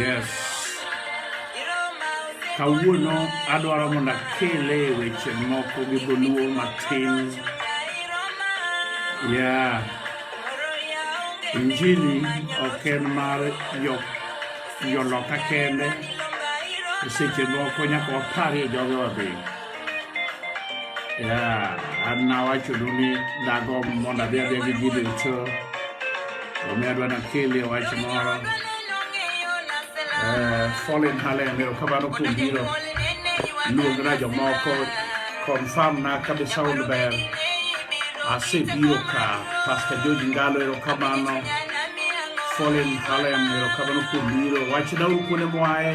Yes. Kawuono adwaro mondo akele weche moko gi dholuo matin. Yeah. Injili ok en mar joloka kende. Seche moko nyaka waparie jogewa be. an nawachonu ni dago mondo adhi adhi gi ji duto omiyo adwa nakeli wach moro eh, fallen halen erokamano kuom biro luongra jomoko confirm na kabe sound ber asebiro ka pastor george ngalo erokamano fallen halen erokamano kuom biro wachna uru kuonde mwaye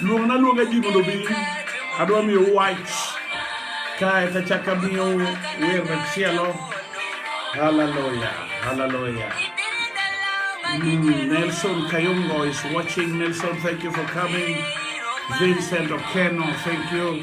luong na luonga ji mondo bi adwa miyo wach kae to chaka miyo wer machielo haleluya haleluya Mm, Nelson Kayungo is watching. Nelson, thank you for coming. Vincent Okeno, thank you.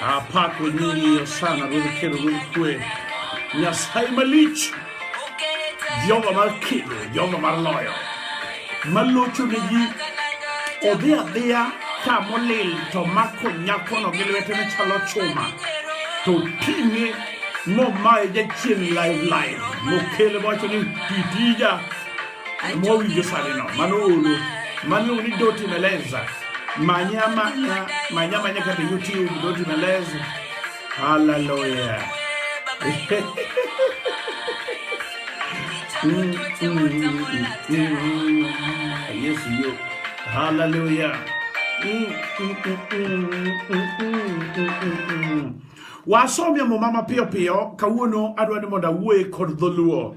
Apako nyingi ya sana ruodh kelo ruodh kwe Nyasaye malich Jehova mar kedo Jehova mar loyo malocho ne ji odhi adhiya ka molil to mako nyakono gi lwete ne chalo chuma to ting'e momaye jachien live live mokele mowacho ni titija Mwowi Josalino, mano ulu. Mano ulu doti meleza. Manya manya, manya manya kata YouTube doti meleza. Hallelujah. yes, you. Hallelujah. Wasomia mumama pio pio, kawuono adwa ni mondo awuoye kod dholuo.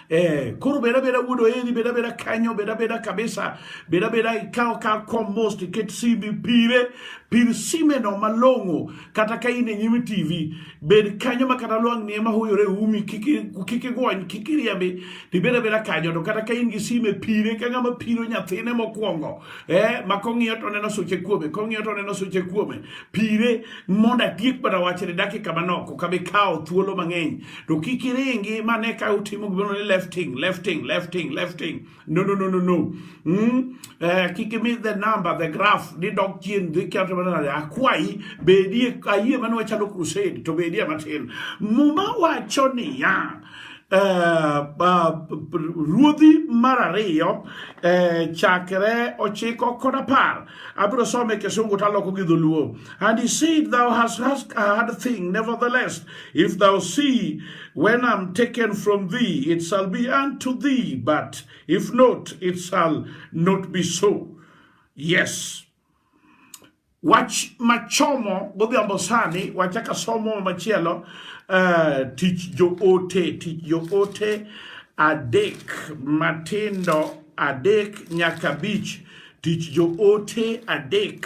Eh, koro beda beda wudo eri beda beda kanyo beda beda kabisa beda beda ikaw ka kom mos tiket simbi pire pir simeno malong'o kata ka in e nyim tv bed kanyo ma kata lwang' nie mahuyore umi kik igwony kik iriembi tibeda beda kanyo to kata ka in gi sime pire ka ng'ama piro nyathine mokwongo eh, ma kong'iyo to neno suche kuome kong'iyo to neno suche kuome pire mondo atiek mana wachne dakika manok okabi kawo thuolo mang'eny to kik iringi mane ka utimo gimoro ni lefting lefting lefting lefting no no no no no mm? eh, kik imi the number the graph ni dok chien dhi kata mana akwayi bedie ayie mane wachalo crusade to bedie matin muma wacho niya Uh, uh, ruodhi mar ariyo uh, chakre ochiko kod apar abiro some kisungu taloko gi dholuo and he said thou hast, hast a hard thing nevertheless If thou see when I'm taken from thee, it shall be unto thee, but if not, it shall not be so. Yes. Wach machomo godhiambo sani wachaka somo machielo uh, tich joote tich joote adek matindo adek nyaka bich tich joote adek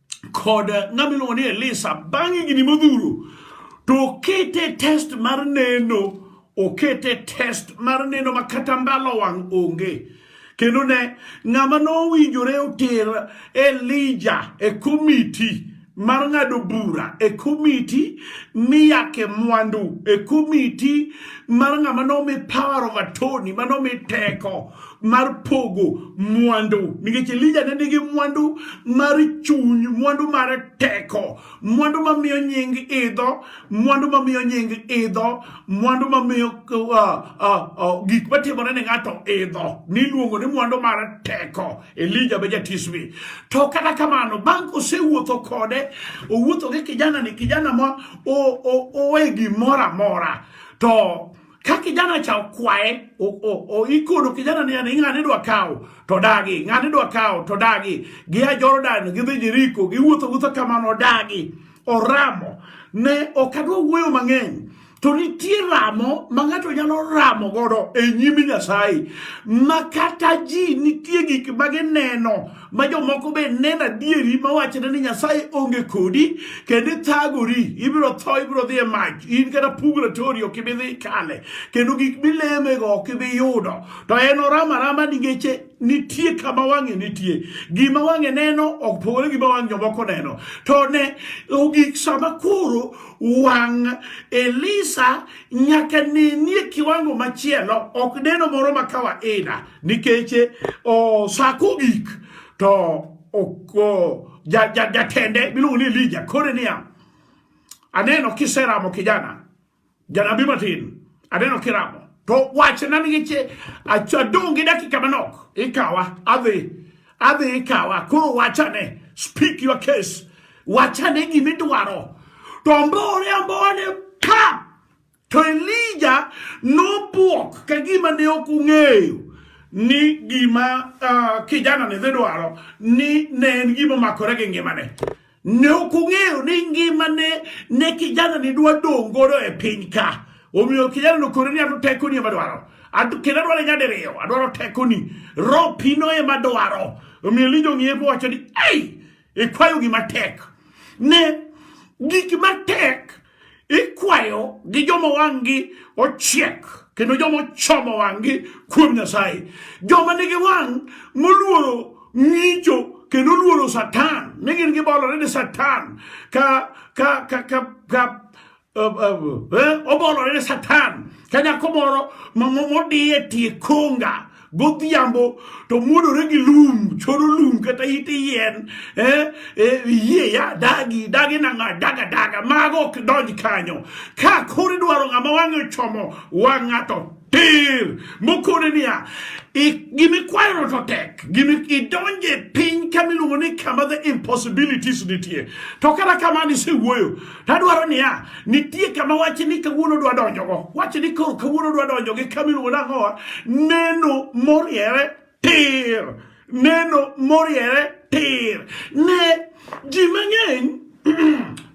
kod ng'ama iluongo ni Elisa bang' higni modhuro to okete test mar neno okete test mar neno ma kata mbalo wang' onge kendo ne ng'ama nowinjore oter Elija e komiti mar ng'ado bura e komiti miyake mwandu e komiti mar ng'ama nomi power of attorney manomi teko mar pogo mwandu nikech Elija ne nigi mwandu mar chuny, mwandu mar teko, mwandu mamiyo nying idho, mwandu mamiyo nying idho, mwandu mamiyo uh, uh, uh, gik matimore ne ng'ato idho, niluongo ni mwandu mar teko. Elija be jatisbi. To kata kamano, bang' kosewuotho kode, owuotho gi kijana ni kijana ma owe gimoro amora to ka kijana cha okwaye ikodo kijana ni ani ng'ane dwa kawo to dagi ng'ane dwa kawo to dagi gia Jordan gidhi Jeriko giwuotho wuotho kamano dagi oramo ne ok adwa wuoyo mang'eny to nitie ramo ma ng'ato nyalo ramo godo e nyim Nyasaye ma kata ji nitie gik ma gineno ma jomoko be neno adieri mawachone ni nyasaye onge kodi kendo ithagori ibiro tho ibiro dhi e mach in kata pugratoni ok ibi dhi kale kendo gik milemego ok ibi yudo to en orama rama ni geche nitie kama wang'e nitie gima wang'e neno ok pogore gima wang' jomoko neno to ne ogik sama koro wang' elisa nyaka nenie kiwango machielo ok neno moro ma kawaida nikech eh, o sa kogik to oko jatende ja, ja miluongo ni Elija kore niya aneno kiseramo kijana janabi matin aneno kiramo to wachna nikech adong' gi dakika manok ikawa adhi adhi ikawa koro wachane speak your case wachane gimidwaro to mbore ambone pa To Elija nobwok ka gima ne ok ung'eyo ni gima uh, kijana ne dhi dwaro ni ne en gima makore gi ngimane. Ne ok ung'eyo ni ngimane ne kijana ni dwa dong' godo e piny ka. Omiyo kijana nokore ni ato teko ni ema dwaro. Ato kendo adwaro nyadiriyo, adwaro teko ni. Roho pino ema dwaro. Omiyo Elija ong'iye mowacho ni, "Ei, ikwayo gima tek." Ne gik matek ikwayo gi joma wang'gi ochiek kendo joma ochomo wang'gi kuom Nyasaye, joma nigi wang' moluoro ng'icho kendo luoro Satan, ni gin gibolore ni Satan ka ka ka ka, ka uh, uh, uh, obolore ni Satan ka nyako moro modiye tie konga godhiambo to muodore gi lum choro lum kata ite yien eh, eh, yie ya dagi dagi nang'a daga daga mago ok donj kanyo ka kori dwaro ng'ama wang'e chomo wang' ng'ato tir mokone niya gimikwayono to tek idonje piny kamiluongo ni kama the impossibilities nitie to kata kamano isewuoyo Tadwaro niya, nitie kama wach ni kawuono dwa donjogo. Wach ni koro kawuono dwa donjo gi kama iluongo nang'owa, neno moriere tir. Neno moriere tir. Ne ji mang'eny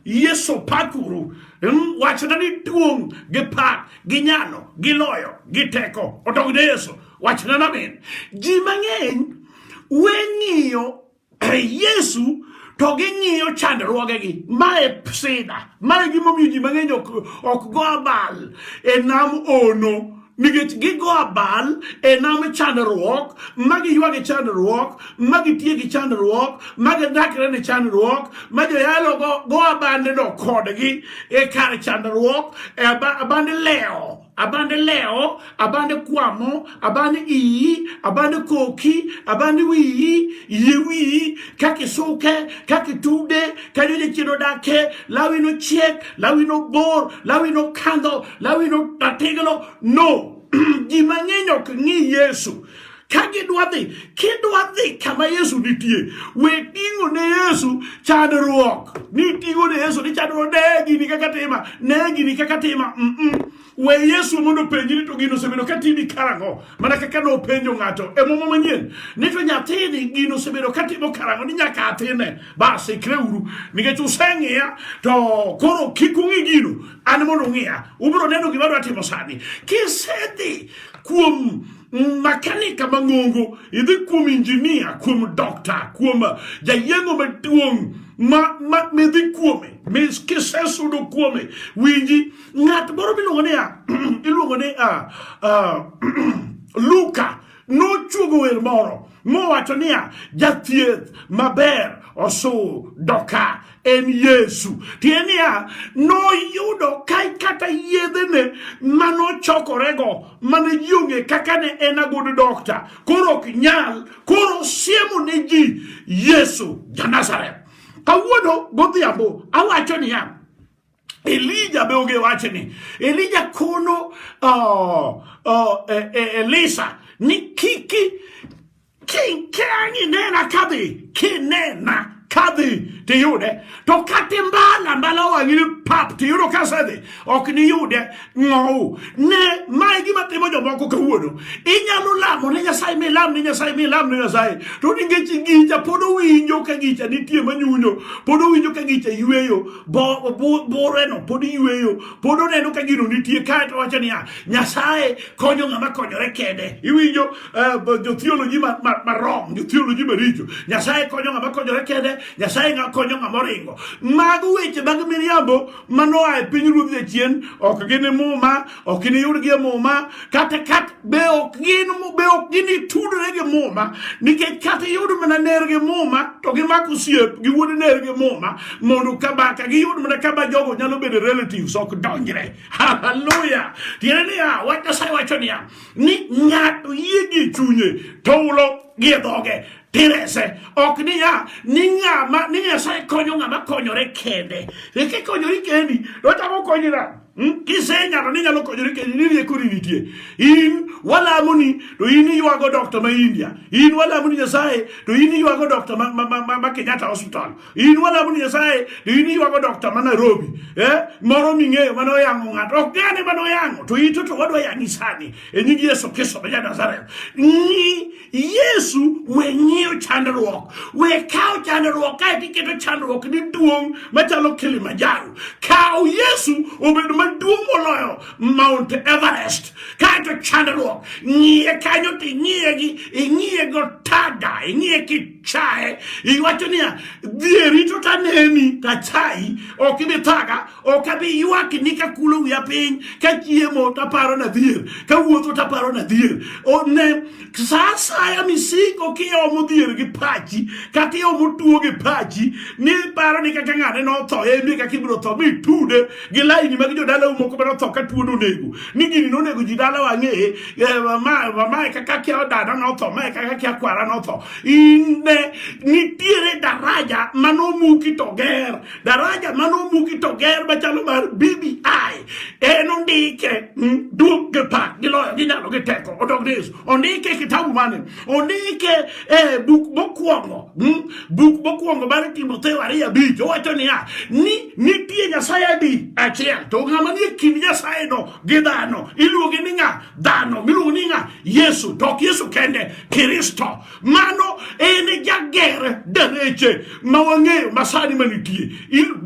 Yesu pakuru hmm, wachona ni duong' gi pak gi nyalo gi loyo gi teko odog ne Yesu wachona namin ji mang'eny weng'iyo Yesu to ging'iyo chandruogegi. Ma e sida, ma e gimomiyo ji mang'eny ok, ok go abal e nam ono nikech gigo abal e nam chandruok ma giywago e chandruok ma gitiyo gi chandruok ma gidakre ne chandruok ma joyalo go, go abandeno kodgi e kar chandruok e aband lewo abande leo abande kwamo abande iyi abande koki abande wiyi iye wiyi kaka isuke kaka itude kanyo jachien odake lawi nochiek lawi nobor lawi nokandho lawi notatiglo no ji mang'eny ok ng'i yesu ka gidwa dhi kidwa dhi kama yesu nitie we ting'o ne yesu chandruok ni ting'o ne yesu ni chandruok ne gini kaka tima ne gini kaka tima mm -mm. we yesu mondo penji ni to gino osebedo ka timi karang'o mana kaka ne openjo ng'ato e muma manyien ni to nyathini gino osebedo ka timo karang'o ni nyaka atine bas ikre uru nikech useng'iya to koro kik ung'i gino an mondo ung'iya ubiro neno gima dwa timo sani kisedhi kuom makanika mang'ongo, idhi kuom injinia, kuom dokta, kuom jayeng'o maduong' ma ma midhi kuome mis kisesudo kuome winji ng'at moro miluongo ni a iluongo ni a Luka nochuogo wer moro mowacho niya jathieth maber osudoka en Yesu. Tiye niya noyudo kai kata yedhene manochokorego mane ji ong'e kaka ne en agodo dokta koro ok nyal koro siemo ne ji Yesu ja Nazareth. Kawuono godhiambo awacho niya Elija be onge wache ni Elija kono uh, uh, e, e, Elisa ni kiki kinkeanyi nena kadhi kinena kadhi tiyude to kati mbala mbala wang'ini pap tiyudo kasedhi ok niyude ng'owu ne mae gima timo jomoko kawuono inyalo lamo ne nyasaye milam ne nyasaye milam ne nyasaye to nikech gicha pod owinjo ka gicha nitie manyunyo pod owinjo ka gicha yweyo boreno pod yweyo pod oneno ka gino nitie kae to wacho niya nyasaye konyo ng'ama konyore kende iwinjo uh, jothioloji marom jothioloji maricho nyasaye konyo ng'ama konyore kende nyasaye konyo ng'ama oringo mago weche mag miriambo manoa e piny ruodh jachien ok gin e muma ok iniyud gi e muma kata kat be ok gin be ok gin itudre gi muma nikech kata iyud mana ner gi muma to gimako osiep gi wuod ner gi muma mondo kaba ka giyud mana kaba jogo nyalo bedo relatives ok donjre haleluya tiende niya wach nyasaye wacho niya ni ng'ato yie gi chunye to ulo gi e dhoge Terese ok niya ni ng'ama ni Nyasaye konyo ng'ama konyore kende. Reke konyori kendi, otamo konyi na. Hmm? Kisenyalo ni nyalo konyori kendi ni rieko ni nitie. In walamo ni to in iywago doctor ma India. In walamo ni Nyasaye to in iywago doctor ma, ma, ma, ma Kenyatta Hospital. In walamo ni Nyasaye, to in iywago dokta ma Nairobi, eh? Moro ming'eyo mane oyango ng'ato, ok gane mane oyango, to ito to wadwa yangi sani, e nying Yesu Kristo ma Nazareth. Ni Yesu we ng'iyo chandruok, we kawo chandruok kae tiketo chandruok ni duong' machalo Kilimanjaro. Kawo Yesu obed maduong' moloyo Mount Everest, kae to chandruok ng'iye kanyo to ing'iye gi ing'iye go tada, ing'iye ki chaye iwacho niya dhieri to taneni tachayi ok ibi thaga ok abi ywakni ka kulo wiya piny ka chiemo taparo na dhier ka wuotho taparo na dhier one sa asaya misiko kiomo dhier gi pachi kata iomo tuo gi pachi ni paro ni kaka ng'ane notho emi kaka ibiro tho mitude gi laini mag jodala moko mane otho ka tuo nonego ni gini nonego ji dala wang'eye mamae kaka kia odada notho mae kaka kia kwara notho inde nitiere daraja manomuki to ger daraja manomuki to ger machalo mar bbi en ondike hmm, duog gi pak gi loyo gi nyalo gi teko odog ni yesu ondike kitabu mane ondike eh, buk mokwongo hmm, buk mokwongo mar timotheo ariyo abich owacho niya ni nitie nyasaye adi achiel to ng'ama nie kind nyasaye no gi dhano iluonge ni ng'a dhano miluongo ni ng'a yesu to ok yesu kende kristo mano en jager dereche ma wang'eyo masani manitie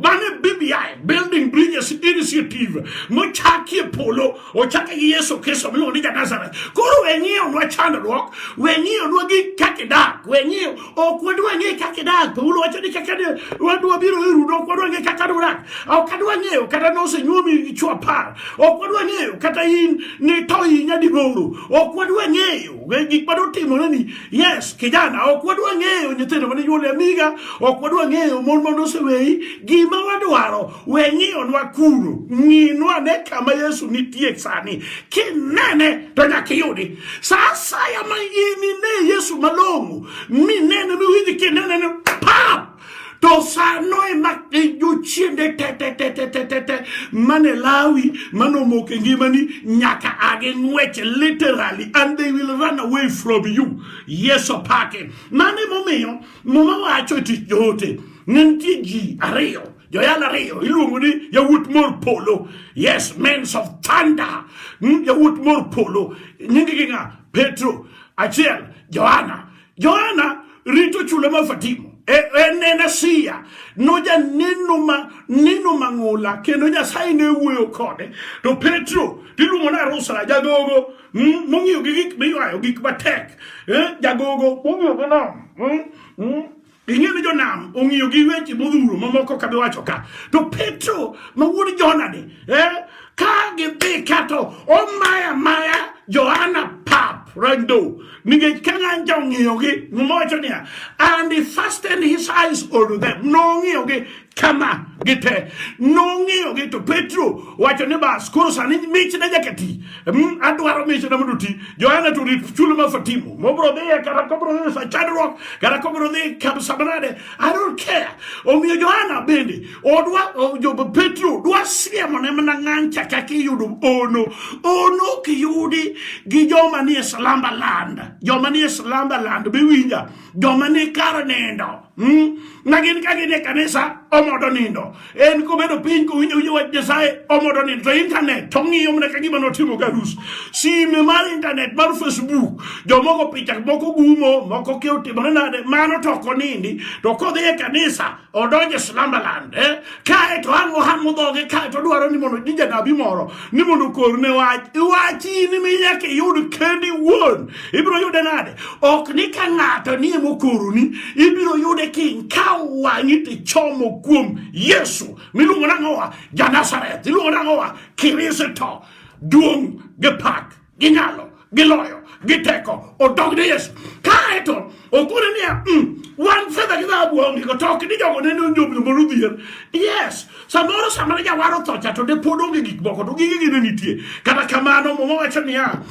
mano e bbi building bridges initiative mochaki e polo ochake gi yesu kristo miluongo ni janazareth koro weng'iyonwa chandruok weng'iyonwa gi kakidak weng'iyo ok wadwa ng'e kaka idak paulo wacho ni kaka wadwa biro e rudo ok wadwa ng'e kaka dudak ok adwa ng'eyo kata nosenyuomi gi chwo apar ok wadwa ng'eyo kata in ni to inya digoro ok wadwa ng'eyo gik ma dotimore ni yes kijana ok wadwa ng'eyo nyithindo mane nyuol e amiga ok wadwa ng'eyo mon ma noseweyi gima wadwaro We ng'iyonwa kuro, ng'inwa ne kama Yesu nitie sani. Kinene to nyaka iyudi. Sa asaya ma in ine Yesu malong'o, minene miwinj kinene ni pap! to sano ema jochiende tetetetetete mane lawi mane omoko e ngimani nyaka agi ng'wech literally and they will run away from you yes opake mano emomiyo muma wacho e tich joote ne nitie ji ariyo joyal ariyo iluongo ni yawuot mor polo yes mens of thunder hmm, yawuot mor polo nyingi gi ng'a petro achiel johana johana rito chula ma fatimo e, en en asia nojaneno ma neno mang'ula kendo nyasaye ne wuoyo kode to petro tiluongo ni arusra jagogo hmm, mong'iyo gi gik miywayo gik matek eh, jagogo mong'iyo gi nam hmm, Ing'e ni jonam ong'iyo gi weche modhuro mamoko ka biwacho ka. To Petro ma wuod Jona ni, eh, ka gidhi kato omaya maya Johana pap rando nikech ka ng'anja ong'iyogi mowacho niya and he fastened his eyes on them nong'iyogi kama gite nong'iyo gi to Petro wacho ni bas koro sani mich ne nyaka ti mm, adwaro mich na mondo ti Johana to rit chulo ma fatimo mobro dhi kata kobro dhi sa chandruok kata kobro dhi kam samanade I don't care omiyo Johana bende odwa jo Petro dwa siemo ne mana ng'an chaka kiyudo ono ono kiyudi gi joma ni e salamba land joma ni e salamba land biwinja joma ni kar nindo hmm? na gin ka gidhi e kanisa omodo nindo en kobedo piny kowinjo winjo wach nyasaye omodo nindo to intanet to ng'iyo mana ka gima notimo garus sime mar intanet mar facebook jomoko picha moko gumo moko ke otimore nade mano to ok onindi to kodhi e kanisa odonje Slumberland eh? kae to ang' ohang'o dhoge kae to dwaro ni mondo ji janabi moro ni mondo korne wach iwachi ni mi nyaka iyud kendi wuon ibiro yude nade ok ni ka ng'ato nie mokoroni ibiro yude king ka wang'i tichomo kuom Yesu miluongo nang'owa Janazareth iluongo nang'owa Kristo duong' gi pak gi nyalo gi loyo gi teko odog ne Yesu kae to okone niya mm, wan fedha gi dhahabu onge go to ok ni jogo nene onjobno mondo odhier yes samoro sama ne jawar otho cha to de pod onge gik moko to gige gi ne nitie kata kamano muma wacho niya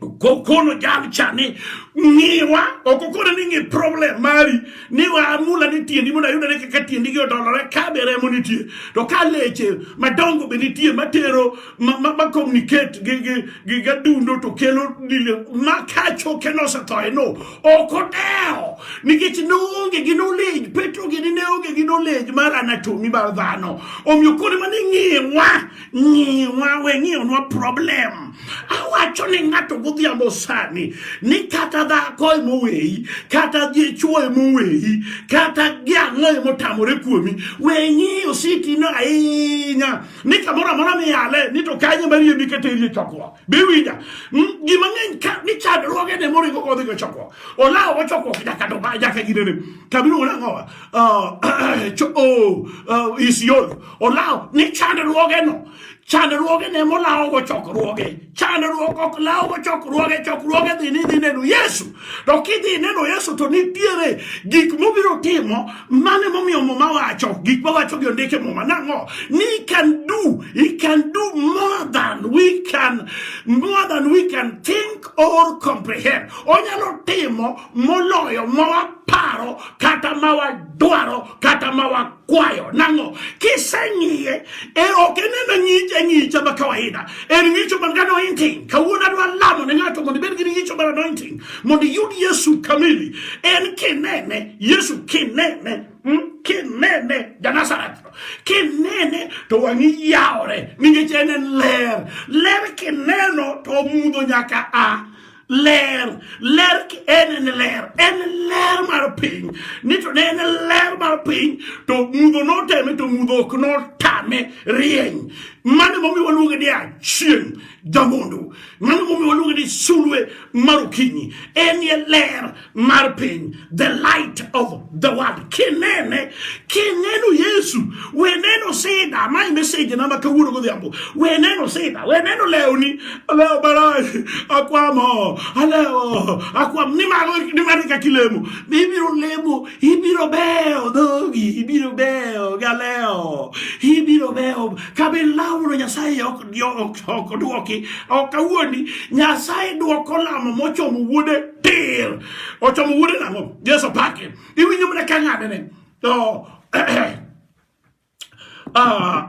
kokono jam chani ngiwa okokona ni ngi problem mari ni wa amula ni tiendi mona yuda ne kaka tiendi gi odolore ka be remo nitie to ka leche madongo be nitie matero ma ma, ma communicate gi gi gi gadundo to kelo dile ma kacho keno sa to no oko deo nikech no onge gi knowledge petro gi ne onge gi knowledge mar anatomy mar dhano omiyo kone mane ngiwa ngiwa we ngiwa no problem awacho ni ngato godhiambo sani ni kata dhako e moweyi kata dichuo e moweyi kata giang'o e motamore kuomi we ngiyo sitino ahinya ni kamoro amora miyale ni to kanye marie miketerie chokruok biwinja hmm? gima ng'eny ka ni chandruoge ne moringo kodhi go chokruok olawo go chokruok nyaka to nyaka ginene kabiro wona ngowa ah, o oh, ah, isiolo olawo ni chandruoge no chandruoge ne molawo go chokruoge chandruok ok lawo go chokruoge chokruoge dhi ni dhi neno yesu to kidhi neno yesu to nitiere gik mobiro timo Mano emomiyo Muma wacho gik mawacho gi ondike Muma nang'o ni he can do he can do more than we can more than we can think or comprehend. Onyalo timo moloyo ma waparo kata ma wadwaro kata ma wakwayo. Nang'o kiseng'iye e ok eneno ng'icha ng'icha ma kawaida en ng'icho man gi anointing. Kawuono adwa lamo ne ng'ato mondo ibed gi ng'icho mar anointing Mondo iyud Yesu kamili, en kinene, Yesu kinene hmm? kinene Janazareth kinene to wang'i yawore nikech en en ler ler kineno to mudho nyaka a ler ler en en ler en ler mar piny ni to ne en ler mar piny to mudho noteme to mudho ok notame rieny mano momiyo waluonge ni achieng' jamondo mano momiyo waluonge ni sulwe mar okinyi en ye ler mar piny the light of the world kinene kineno yesu we neno sida mae meseji na ma kawuono godhiambo we neno sida we neno lewni lewo baraj akwamo alewo akwam nimar eka kilemo ibiro lemo ibiro beyo dhogi ibiro beyo galewo ibiro beyo kabe lawno nyasaye ok oduoki ok awuondi nyasaye duoko lamo mochomo wuode tir ochomo wuode nang'o jesu pake iwinjo mana ka ng'adene to ah,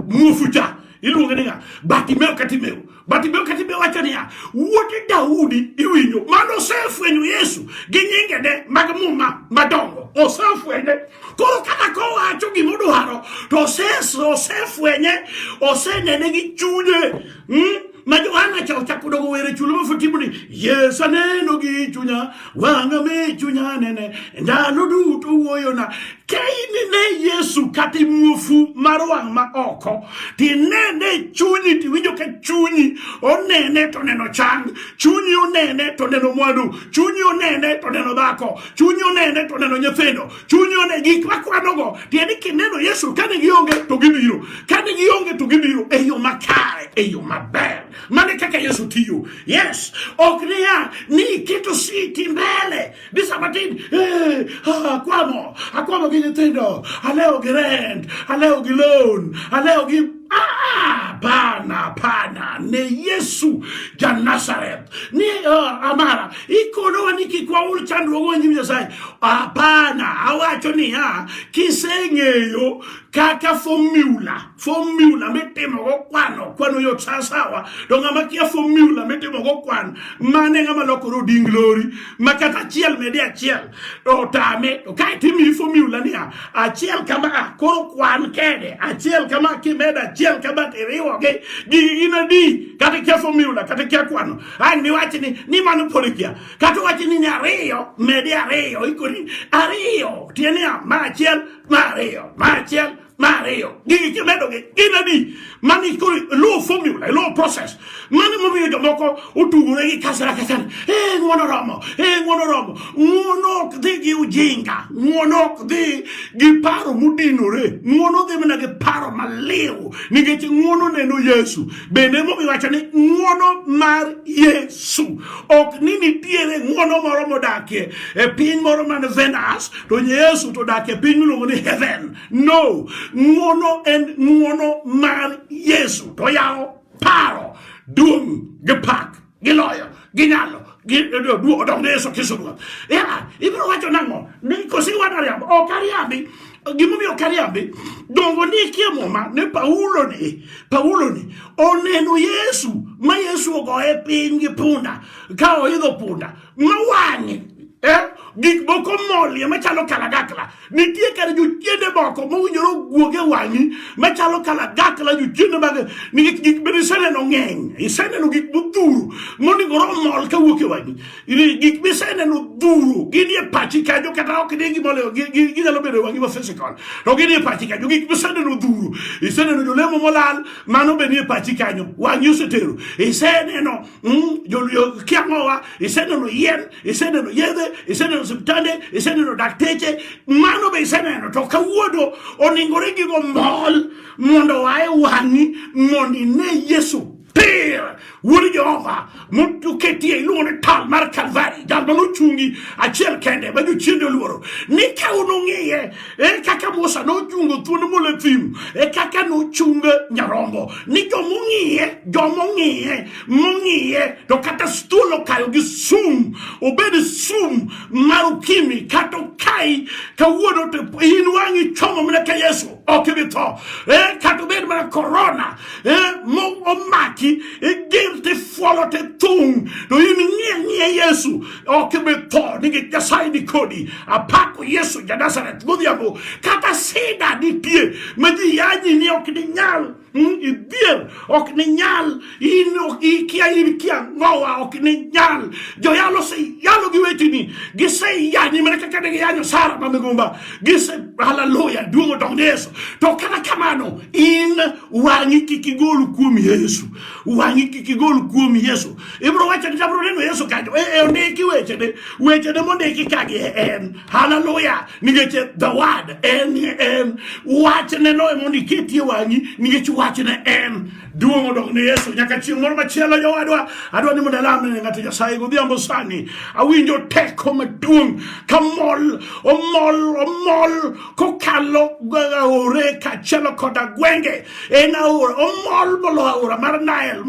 muofu cha iluonge ni ng'a batimeo katimeo batimeo katimeo wacho niya wuode daudi iwinjo mano osefwenyo yesu gi nyingene mag muma madongo osefwenye Koro kata kowacho gima odwaro to osefwenye osenene gi chunye hmm? ma Johana cha ochako dogo were chulo mafutibu ni Yesu aneno gi chunya wanga me chunya nene ndalo duto wuoyona ka inine Yesu kata imuofu mar wang' ma oko tinene chunyi tiwinjo ka chunyi onene to neno chang chunyi onene to neno mwandu chunyi onene to neno dhako chunyi onene to neno nyithindo, chunyi one gik makwanogo. Tiende kineno Yesu kane gionge to gibiro, kane gionge to gibiro e yo makare, e yo maber. Mane kaka Yesu tiyo. Yes, ok niya ni iketo siti mbele ni sama tin eh, akwamo akwamo gi nyithindo, alewo gi rent, alewo gi loan, alewo gi ah, pana pana ne Yesu ja Nazareth. ni uh, amara ikonowa ni kik waul chandruogwa nyim nyasaye hapana awacho niya kiseng'eyo kaka fomula fomula mitimogo kwano kwano yot sasawa to ng'ama kia fomula mitimogo kwano mane ng'ama lokore oding lori ma kata achiel mede achiel otame to kae timiyi fomula niya achiel kama koro kwan kede achiel kama kimedo achiel kama tiriwogi gigi gin adi kata kia fomula kata kia kwano ang' niwachi ni ni mano pod kia kata wachi ni ni ariyo medi ariyo ikoni ariyo tiende niya ma achiel ma ariyo ma achiel Mar ariyo, gigi kimedo gi gin adi? Mani koro low formula, low process. Mani momiyo jomoko otugore gi kasra kasra. Eh, ng'wono romo, eh, ng'wono romo. Ng'wono ok dhi gi ujinga, ng'wono ok dhi gi paro mudinore. Ng'wono dhi mana gi paro maliw nikech ng'wono neno Yesu. Bende momiyo wacho ni ng'wono mar Yesu. Ok ni nitiere ng'wono moro modakie e piny moro man Venus to Yesu to odakie piny miluongo ni heaven. No, ng'uono en ng'uono mar Yesu to yawo paro duong' gi pak gi loyo gi nyalo odok ne Yesu Kristo Ruoth. Yeah, ibiro wacho nang'o? Ni kosi wana riambo, ok ariambi. Gimomiyo ok ariambi, dongo ni ikie muma ne Paulo ni, Paulo ni oneno Yesu ma Yesu ogoye piny gi punda ka oidho punda mawang'e eh? gik moko molie machalo kalagakla nitie kare jochiende moko mowinjore ogwuoge wang'i machalo kalagakla jochiende mag nikech gik bende iseneno ng'eny iseneno gik modhuro monigore omol kawuok e wang'i gik miseneno dhuro gini e pachi kanjo kata ok ni gimoleo ginyalo bedo e wang'i ma physical to gini e pachi kanjo gik miseneno dhuro iseneno jolemo molal mano be ni e pachi kanyo wang'i osetero iseneno Mm, joluyo kiang'owa iseneno yien iseneno yedhe iseneno osiptande iseneno dakteche mano be iseneno to kawuono oningore gigo mol mondo wae wang'i mondo ine yesu pir wuod jehova moketie iluongo ni tal mar kalvari jal ma nochungi achiel kende ma jochiende oluoro ni ka unung'iye Ere kaka Musa nochungo thuond mule thim, e kaka nochung nyarombo ni jomong'iye jomong'iye mong'iye to kata thuol okayo gi sum obed sum mar ukimi kata okai kawuono to in wang'i chomo mana ka Yesu ok ibi tho eh, kata obed mana korona eh, momaki eh, gir tifuolo tithung' to in ng'iye ng'iye Yesu ok imetho nikech nyasaye ni kodi apako yesu ja nazareth godhiambo kata sida nitie ma ji yanyi ni ok ninyal mm, idhier ok ninyal in ok ikia in kia ngowa ok ninyal joyalo oseyalo gi wetini giseyanyi mana kaka ne giyanyo sara ma migumba gise haleluya duong' odog ne yesu to kata kamano in wang'i kik igol kuom yesu wang'i kik igol kuom Yesu. Ibro wacho ni abro neno Yesu kanyo. E, e ondiki weche ne weche ne mondiki kagi e, en haleluya nikech the word en en wach ne no mondo iketie wang'i nikech wach ne en duong' odok ne Yesu nyaka chieng' moro machielo jowadwa adwa ni mondo alam ne ng'ato Nyasaye godhiambo sani awinjo teko maduong' kamol omol omol kokalo aore kaachiel koda gwenge en aora omol molo aora mar Nile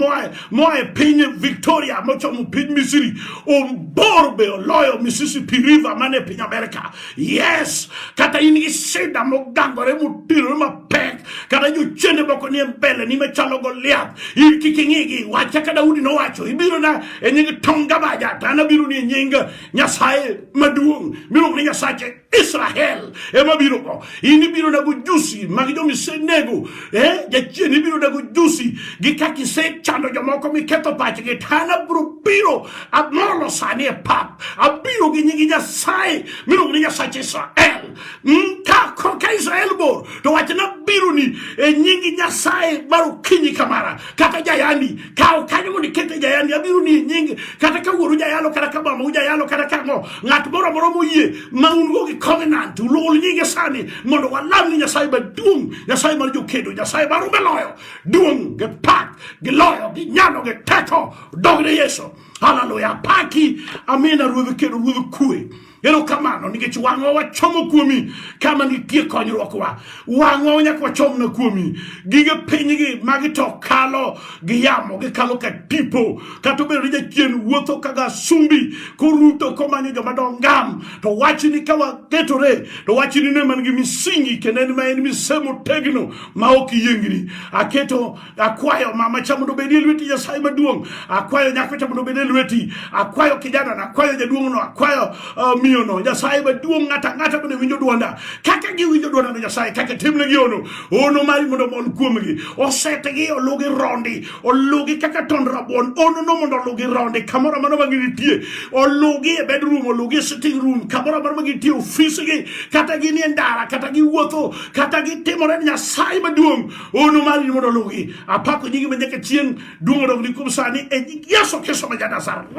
moa e piny Victoria mochomo piny Misri obor be oloyo Mississippi River man e piny Amerika yes kata in gi sida mogangore motirore mapek kata jochiende moko nie mbele ni machalo Goliath in kik ing'igi wacha ka Daudi nowacho ibiro na e nying Tonga Baja to an abiro ni e nying Nyasaye maduong' miluongo ni Nyasache Israel ema biro go. In ibiro dago jusi mag jo misenego. Eh, jachien ibiro dago jusi gi kaka isechando jomoko miketho pachgi. To an abiro biro amolo sani e pap. Abiro gi nyingi Nyasaye miluongo ni Nyasach Israel. Mm, ka ka Israel bor to wachna biro ni e nyingi Nyasaye mar okinyi kamara kata jayandi kaw kanyo mondo iket e jayandi abiro ni nyingi kata ka wuoru jayalo kata ka mama ujayalo kata ka ng'o ng'at moro moro moyie ma un go gi covenant ulul nyinge sani mondo walam ni nyasaye maduong' nyasaye mar jokedo nyasaye mar ume loyo duong' gi pak gi loyo gi nyalo gi teko dogne yesu haleluya paki amina ruodh kedo ruodh kue Erokamano nikech wang'wa wachomo kuomi kama nitie konyruokwa. Wang'wa wanyaka wachomna kuomi. Gige pinygi magi to kalo gi yamo, gikalo ka tipo. Kata obedo ni jachien wuotho ka gasumbi koruto komanyo joma dongam. To wachni ka waketore to wachni ne man gi misingi kendo en ma en mise motegno ma ok yiengni. Aketo Akwayo mama cha mondo obedie lweti Nyasaye maduong'. Akwayo nyako cha mondo obedie lweti. Akwayo kijana na akwayo jaduong' no, akwayo uh, miyo no. Nyasaye maduong' ng'ata ng'ata bende winjo dwonda. Kaka giwinjo dwonda no Nyasaye kaka timne gi ono. Ono mari mondo omol kuomgi. Osetegi olugi rondi. Olugi kaka tond rabuon. Ono no mondo olugi rondi kamoro amano ma ginitie. Olugi e bedroom, olugi e sitting room, kamoro amano ma ginitie ofisgi, kata ginie ndara, kata giwuotho, kata gitimore Nyasaye maduong' Unu mar ni mondo lugi apako nyingi ma nyaka chieng' duong' odog ni kuom sani e nying Yesu Kristo ma Janazareth.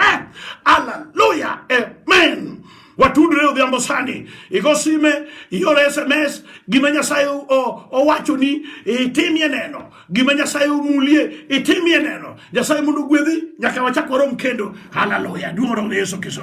Hallelujah. Amen. watudre odhiambo sani igo sime ior sms gima nyasaye owachoni itimie neno gima nyasaye omulie itimie neno nyasaye mondo ogwedhi nyaka wachak warom kendo haleluya duong' odog ne yesu kristo